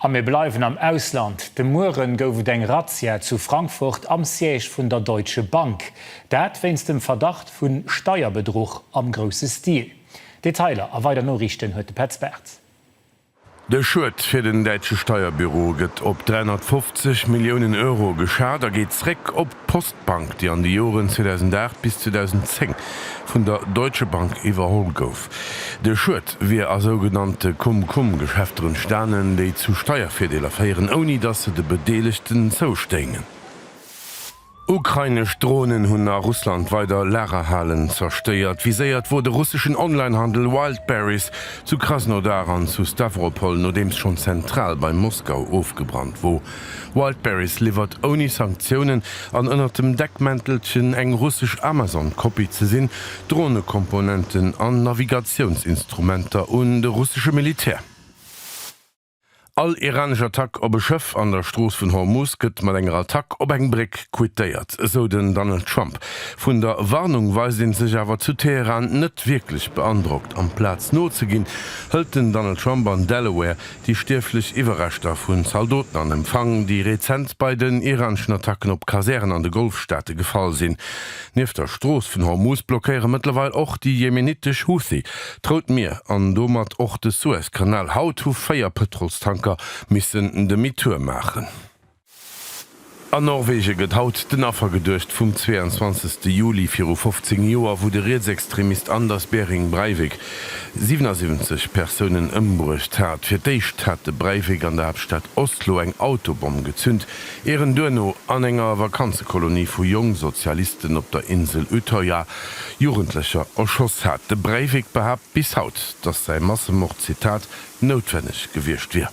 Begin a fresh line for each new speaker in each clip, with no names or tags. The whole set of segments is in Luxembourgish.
A mir bleiwen am Ausland. De Mueren gouf et eng Razzia zu Frankfurt am Siège vun der Deutsche Bank. Dat wéinst dem Verdacht vu Steierbedruch am grousse Stil. Detailer a weider Noriichten huet de Petz Bartz. De Schued fir den däitsche Steierbüro gëtt op 350 Milliounen Euro geschat a geet zréck op d'Post. D'Bank, déi an de Joren 2008 bis 2010 vun der Deutsche Bank iwwerholl gouf. De Schued wier a sougenannte Cum-Cum-Geschäfter entstanen, déi zu Steiervirdeeler féieren, ouni datt se de Bedeelegten zoustéingen. Ukrainesch Dronen hunn a Russland weider Lagerhalen zerstéiert. Viséiert wor de russeschen Online-Handel Wildberries zu Krasnodar an zu Stawropol, nodeems schonn d'Zentral bei Moskau ofgebrannt wor. Wildberries liwwert ouni Sanktiounen an ënnert dem Deckmäntelchen eng russesch Amazon-Kopie ze sinn, Dronekomponenten an Navigatiounsinstrumenter un de russesche Militär. All iranesch Attack op e Schëff an der Strooss vun Hormuz gëtt mat enger Attack op eng Bréck quittéiert, esou den Donald Trump. Vun der Warnung weist ee sech awer zu Teheran net wierklech beandrockt. Amplaz nozeginn, hëlt den Donald Trump an Delaware Déi stierflech Iwwerreschter vu Zaldoten an Empfang, déi rezent bei den iraneschen Attacken op Kasären an de Golfstaate gefall sinn. Nieft der Strooss vun Hormuz blockéiere mëttlerweil och déi jemenitesch Houthi d'Rout Mier an domat och de Suezkanal. Haut hu véier Pëtrolstanker missen Demi-tour maachen. An Norwege gëtt haut den Affer geduecht vum 22 Juli viru 15 Joer, wou de Rietsextremist Anders Behring Breivik 77 Persounen ëmbruecht hat. Fir d'éischt hat de Breivik an der Haaptstad Oslo eng Autobomm gezünt, ier en duerno an enger Vakanzekolonie vu Jongsozialisten op der Insel Utøya Jugendlecher erschoss hat. De Breivik behaapt bis haut, datt säi Massemord, Zitat, noutwenneg gewiescht wier.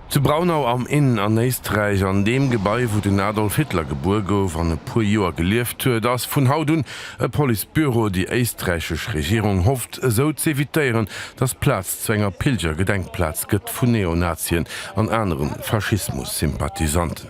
Zu Braunau am Inn an Éisträich, an deem Gebai wou den Adolf Hitler gebuer gouf an e puer Joer gelieft huet, ass vun haut un e Police Büro. Déi éisträichesch Regierung hofft esou z'evitéieren, datt d'Plaz zu enger Pilgergedenkplaz gëtt vu Neonazien an anere Faschismus-Sympathisanten.